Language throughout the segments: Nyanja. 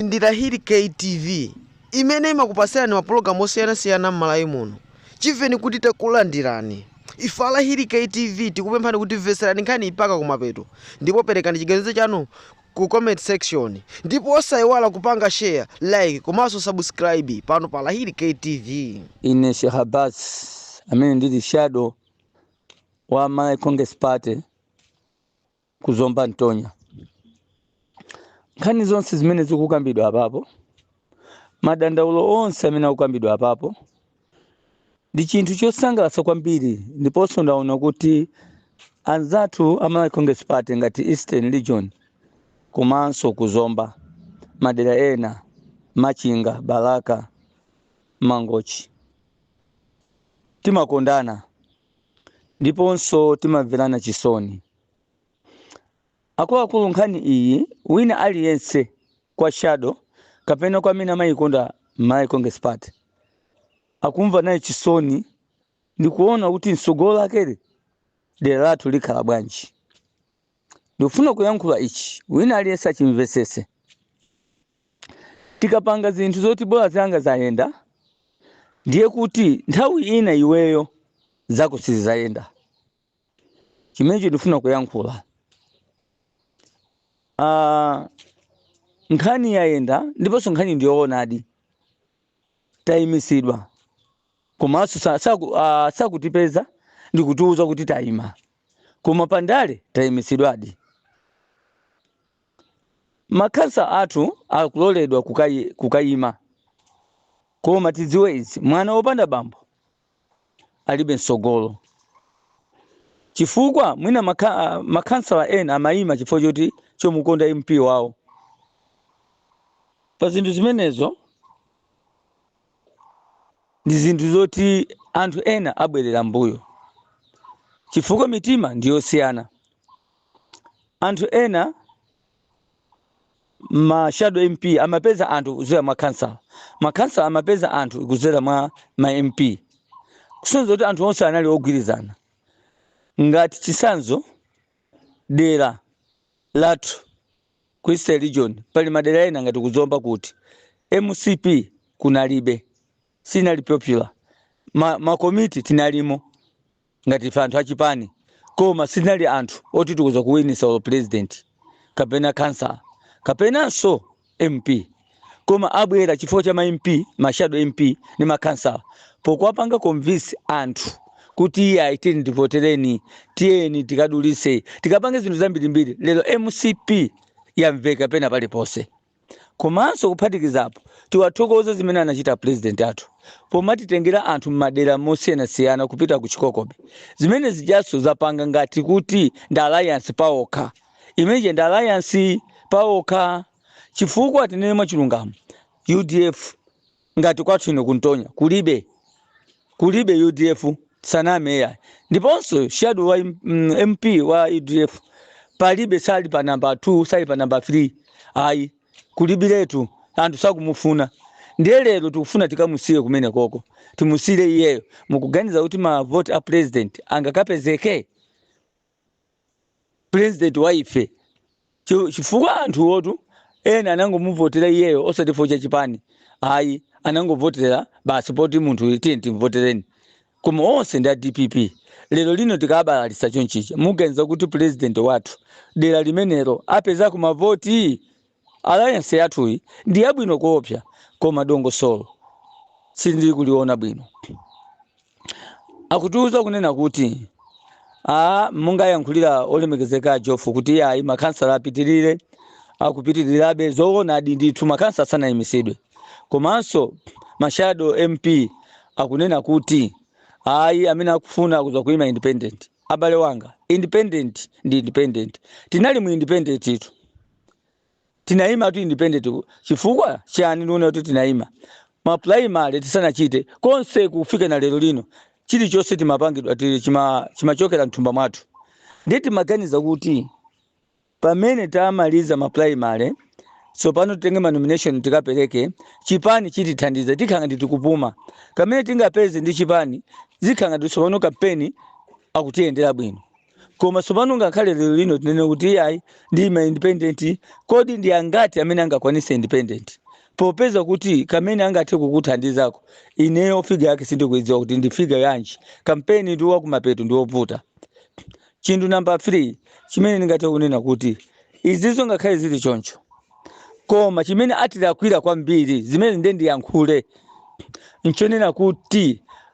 Ndi Rahili K TV imene imakupasirani mapulogalamu osiyana siyana mmalawi muno. Chimveni kuti takulandirani. Ife a Rahili K TV tikupemphani kuti mveserani nkhani mpaka kumapeto ndipo perekani chiganizo chanu ku comment section. Ndipo osaiwala kupanga share, like komanso subscribe pano pa Rahili K TV. Ine Sheikh Abbas amene ndili shadow wa Malawi Congress Party ku zomba ntonya nkhani zonse zimene zikukambidwa apapo madandaulo onse amene akukambidwa apapo ndi chinthu chosangalatsa kwambiri ndiponso ndaona kuti anzathu a malawi congress party ngati eastern region komanso ku zomba madera ena machinga balaka mangochi timakondana ndiponso timamverana chisoni akuluakulu nkhani iyi wina aliyense kwa shado kapena kwa amene amayikonda malawi congress party akumva naye chisoni ndikuona kuti mtsogolo lake dera lathu likhala bwanji ndifuna kuyankhula ichi wina aliyense achimvetsese tikapanga zinthu zoti bola zanga zayenda ndiye kuti nthawi ina iweyo zako sizizayenda chimenecho ndifuna kuyankhula Ah, nkhani yayenda ndiponso nkhani ndiyoonadi tayimisidwa komanso sa- saku- ah, sakutipeza ndikutiuza kuti tayima koma pandale tayimisidwadi makhansa athu akuloledwa kukayi- kukayima koma tidziwe izi mwana wopanda bambo alibe mtsogolo chifukwa mwina makha- ah, makhansala ena amayima chifukwa choti chomukonda mp wawo pa zinthu zimenezo ndi zinthu zoti anthu ena abwerera mbuyo chifukwa mitima ndi yosiyana anthu ena ma shadow mp amapeza anthu kudzera mwa makhansala makhansala amapeza anthu kudzera mwa ma mp kusonza kuti anthu onse anali ogwirizana ngati chisanzo dera lathu ku eastern region pali madera ena ngati ku zomba kuti mcp kunalibe sinali popular ma, makomiti tinalimo ngati ife anthu achipani koma sitinali anthu oti tikudza kuwinisa olo president kapena khansala kapenanso mp koma abwera chifukwa cha ma mp ma shadow mp ndi makhansala pokuwapanga convince anthu kuti iyayi tiyeni ndivotereni tiyeni tikadulise tikapange zinthu zambirimbiri lero mcp yamveka pena paliponse Komanso kuphatikiza apo, tiwathokoze zimene anachita apulezidenti athu pomatitengera anthu m'madera mosiyanasiyana kupita ku Chikoko Bay. Zimene zijanso zapanga ngati kuti ndi alliance paokha. Imene ija ndi alliance paokha chifukwa tinene mwachilungamo, udf ngati kwathu ino ku Ntonya kulibe kulibe udf sanaime eya ndiponso shadow wa mp wa udf palibe sali pa namba 2 sali pa namba 3 ayi kulibiretu anthu sakumufuna ndiye lero tikufuna tikamusiye kumenekoko timusiyire iyeyo mukuganiza kuti mavoti a president angakapezeke president wa ife chifukwa anthuwotu ena anangomuvotera iyeyo osati chifukwa cha chipani ayi anangovotera basi poti munthu tiye timvotereni koma onse ndi a dpp lero lino tikabalalitsa chonchicha muganiza kuti president wathu dera limenelo apezako mavoti Alliance yathuyi ndi yabwino koopsa koma dongosolo sindili kuliona bwino. Akutiuza kunena kuti monga ayankhulira olemekezeka a Jofu kuti ayi makhansala apitirire akupitirirabe zoonadi ndithu makhansala sanaimitsidwe komanso ma shadow MP akunena kuti ayi amene akufuna kuza kuima independent. Abale wanga independent ndi independent tinali mu independent itu. tinaimatu independent chifukwa chani ndiona kuti tinaima ma primary tisanachite konse kufika na lero lino chilichonse chimapangidwa chimachokera mthumba mwathu ndiye timaganiza kuti pamene tamaliza ma primary tsopano titenge ma nomination tikapereke chipani chitithandiza tikhala ngati tikupuma kamene tingapeze ndi chipani zikhala ngati tsopano kampeni akutiyendera bwino koma tsopano ngakhale lero lino tinene kuti iyayi ndi ma independent kodi ndi angati amene angakwanise independent popeza kuti kamene angathe kukuthandizako ineyo figa yake sindikuidziwa kuti ndi figa yanji kampeni ndi wakumapeto ndi wovuta chinthu namba 3 chimene ndingathe kunena kuti izizo ngakhale zili choncho koma chimene atilakwira kwambiri zimene nde ndiyankhule nchonena kuti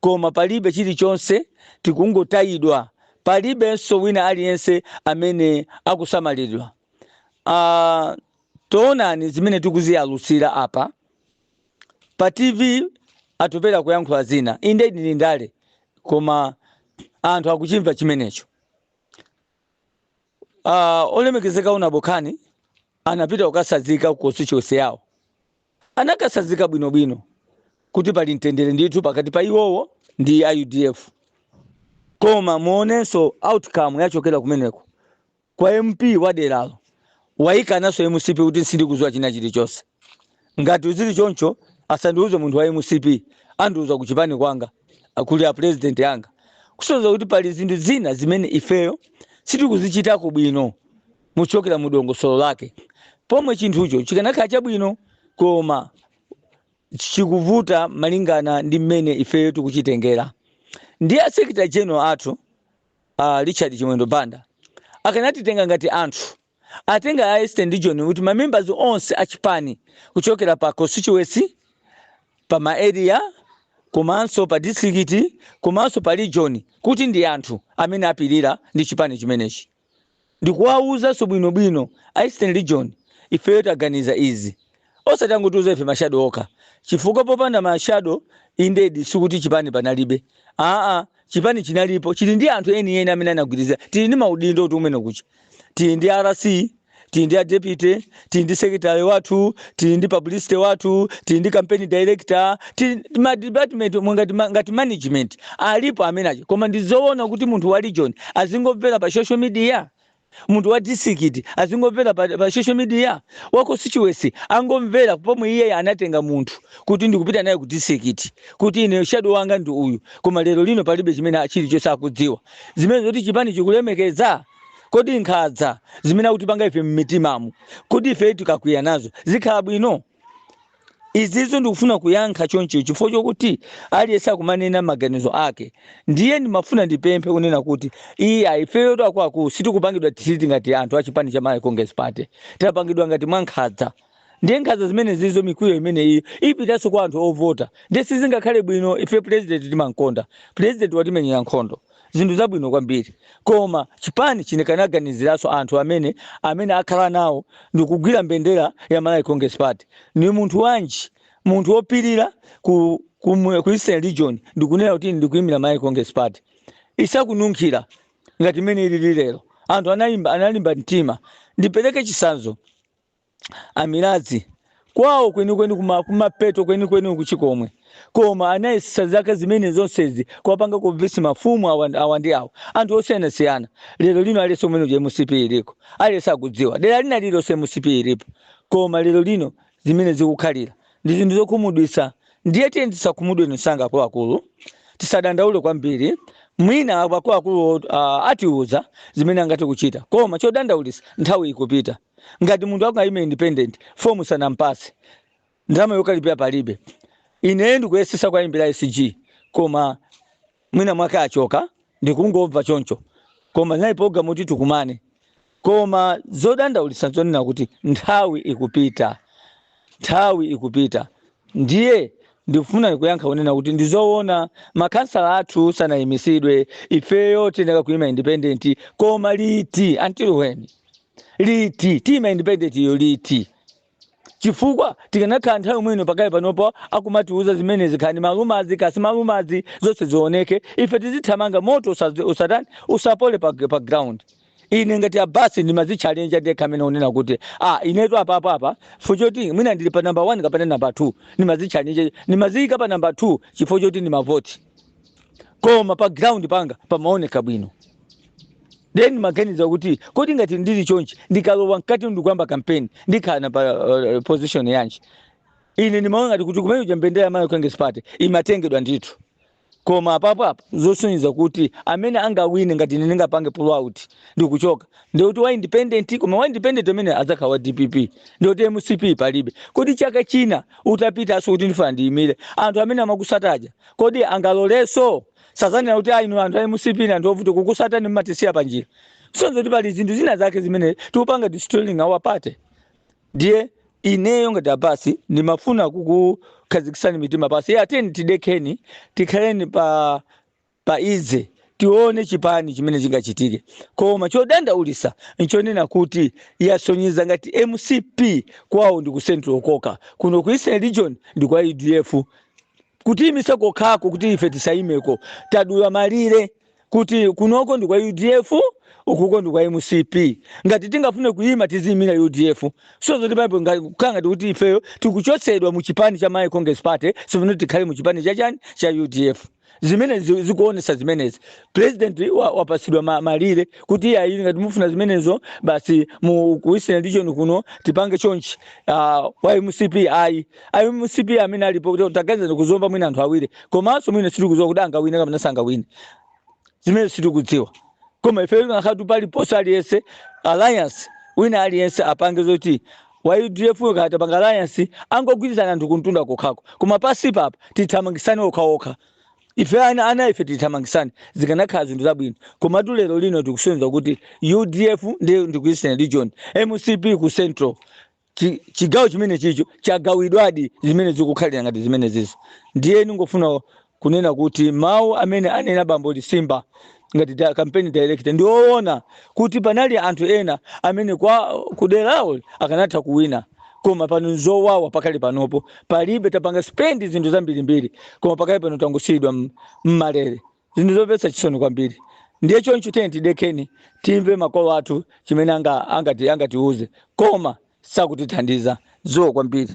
koma palibe chilichonse, tikungotayidwa, palibenso wina aliyense amene akusamalidwa. Uh, toonani zimene tikuziyalutsira apa pa TV Atupele kuyankhula zina, inde ndi ndale, koma anthu akuchimva chimenecho. Uh, olemekezeka unabokhani anapita kukatsanzika ku constituency yawo anakatsazika bwinobwino kuti pali mtendere ndithu pakati pa iwowo ndi a udf koma muonenso outcome yachokera kumeneko kwa mp wa deralo wakananso mcp kuti sindikudziwa china chilichonse ngati zili choncho asandiuze munthu wa mcp andiuze kuchipani kwanga akuli a president anga kusonyeza kuti pali zinthu zina zimene ifeyo sitikuzichitako bwino muchokera mu dongosolo lake pomwe chinthucho chikanakhala chabwino koma chikuvuta malingana ndi mmene ifeyo tikuchitengera ndi a secretary general athu a richard chimwendo banda akanatitenga ngati anthu atenga a eastern region kuti mamembers onse achipani kuchokera pa constituency pa ma area komanso pa district komanso pa region kuti ndi anthu amene apirira ndi chipani chimenechi ndikuwawuzanso bwino bwino a Eastern region ifeyo taganiza izi osati kungotiwuza ife ma shadow okha chifukwa popanda ma shadow indedi sikuti chipani panalibe aa chipani chinalipo chili ndi anthu enieni amene anagwirizira tili ndi maudindo kuti kumene kucha tili ndi RC tili ndi a deputy tili ndi secretary wathu tili ndi publicity wathu tili ndi campaign director tili ndi ma department omwe ngati, ma- ngati management alipo amene aja koma ndizoona kuti munthu wa region azingomvera pa social media munthu wa district azingomvera pa, pa social media wa constituency angomvera pomwe iye anatenga munthu kuti ndikupita naye ku district kuti ine shadow wanga ndi uyu koma lero lino palibe chimene chilichonse akudziwa zimene zoti chipani chikulemekeza Kodi nkhanza zimene akutipanga ife mmitimamu, kodi ifeyo tikakwiya nazo zikhala bwino? Izizo ndikufuna kuyankha choncho chifukwa chokuti aliyense akumanena maganizo ake. Ndiye ndimafuna ndipemphe kunena kuti iya ifeyo akuluakulu sitikupangidwa treat ngati anthu a chipani cha Malawi Congress Party. Tapangidwa ngati mwankhanza. ndiye nkhanza zimene zizo mikwiyo imene iyo ipitanso kwa anthu ovota ndiye sizingakhale bwino ife president timamkonda president tamumenyera nkhondo zinthu zabwino kwambiri koma chipani chikanaganiziranso anthu amene amene akhala nawo ndikugwira mbendera ya malawi congress party ni munthu wanji munthu wopirira ku, ku, mu- ku eastern region ndikunena kuti ndikuyimira malawi congress party isakununkhira ngati mmene ilili lero anthu anayimba analimba mtima ndipereke chitsanzo a Mirazi kwawo kwenikweni kuma kumapeto kwenikweni ku Chikomwe koma anayesetsa zaka zimene zonsezi kuwapanga convince mafumu awa, awa ndi awa anthu osiyanasiyana lero lino aliyense kumene uja mcp iliko aliyense akudziwa dera lina lililonse mcp ilipo koma lero lino zimene zikukhalira ndi zinthu zokhumudwitsa ndiye tiyeni tisakhumudwe msanga akuluakulu tisadandaule kwambiri mwina akuluakulu uh, atiuza zimene angathe kuchita koma chodandaulitsa nthawi ikupita ngati munthu akukayima independent fomu sanampase ndalama yokalipira palibe ine ndikuyesesa kuwayimbira sg koma mwina mwake achoka ndikungomva choncho koma nayi program kuti tikumane koma zodandaulitsa zonena kuti nthawi ikupita nthawi ikupita ndiye ndikufuna kuyankha kunena kuti ndizoona makhansala athu sanayimisidwe ifeyo tiyenera kuyima independent koma liti until when liti tiyima independent iyo liti chifukwa tikanakhala nthawi mwino pakale panopo akumatiuza zimenezi khani malumazi kasi malumazi zonse zioneke ife tizithamanga moto usa- usatani usapole pa, pa ground ine ngati abasi ndimazitchalenja ndekha amene unena kuti ah, inetu apapo apa chifukwa choti mwina ndili pa namba 1 kapena namba 2 ndimazitchalenja ndimaziyika pa namba 2 chifukwa choti ndimavoti koma pa ground panga pamaoneka bwino then ndimaganiza kuti kodi ngati ndili chonchi ndikalowa mkati ndikuyamba kampeni ndikhala pa uh, position yanji ine ndimaona ngati kuti kumene kuja mbendera ya malawi congress party imatengedwa ndithu koma apapo apo zosonyeza kuti amene angawine ngati ine ndingapange pull out ndikuchoka ndikuti wa independent koma wa independent amene adzakhala wa dpp ndikuti mcp palibe kodi chaka china utapitaso kuti ndifuna ndiyimire anthu amene amakusataja kodi angaloleso sazanena kuti ayi inu anthu a mcp ni anthu ovuta kukusatani mmatisiya panjira so nzoti pali zinthu zina zake zimene tikupanga destroying our party ndiye ineyo ngati abasi ndimafuna kukukhazikisani mitima pasi tiyeni tidekheni tikhaleni pa pa ize tione chipani chimene chingachitike koma chodandaulisa nchonena kuti yasonyeza ngati mcp kwawo ndi ku central kokha kuno ku eastern region ndi kwa udf kutiyimitsa kokhako kuti ife tisayimeko tadula malire kuti kunoko ndi kwa udf ukuko ndi kwa mcp ngati tingafune kuyima tiziyimira udf so zotipanga kukhala ngati kuti ifeyo tikuchotsedwa mu chipani cha malawi congress party sifuna tikhale mu chipani cha chani cha udf zimene zi- zikuonesa zimenezi president wa- wapatsidwa ma- malire kuti ayi ngati mufuna zimenezo basi mu ku eastern region kuno tipange chonchi uh, wa mcp ayi a mcp amene alipo kuti taganiza ku zomba mwina anthu awiri komanso mwina sitikudziwa kuti angawine kapena sangawine zimene sitikudziwa koma ife ngakhale paliponse aliyense alliance wina aliyense apange zoti wa udf yo kaya tapanga alliance angogwirizana anthu kumtunda kokhako koma pasi pano tithamangisane okhaokha ife ana ana ife tithamangisane zikanakhala zinthu zabwino komatu lero lino tikusonyeza kuti udf ndi ndi ku eastern region mcp ku central chi- chigawo chimenechicho chagawidwadi zimenezi zikukhalira ngati zimenezizo ndiye ndingofuna kunena kuti mawu amene anena bambo lisimba ngati da- campaign director ndi owona kuti panali anthu ena amene a kuderawo akanatha kuwina koma pano nzowawa pakali panopo palibe tapanga spend zinthu zambirimbiri koma pakali pano tangosiyidwa m- m'malere zinthu zomvetsa chisoni kwambiri ndiye choncho tiyeni tidekeni timve makolo athu chimene anga- angati angatiuze koma sakutithandiza iwo kwambiri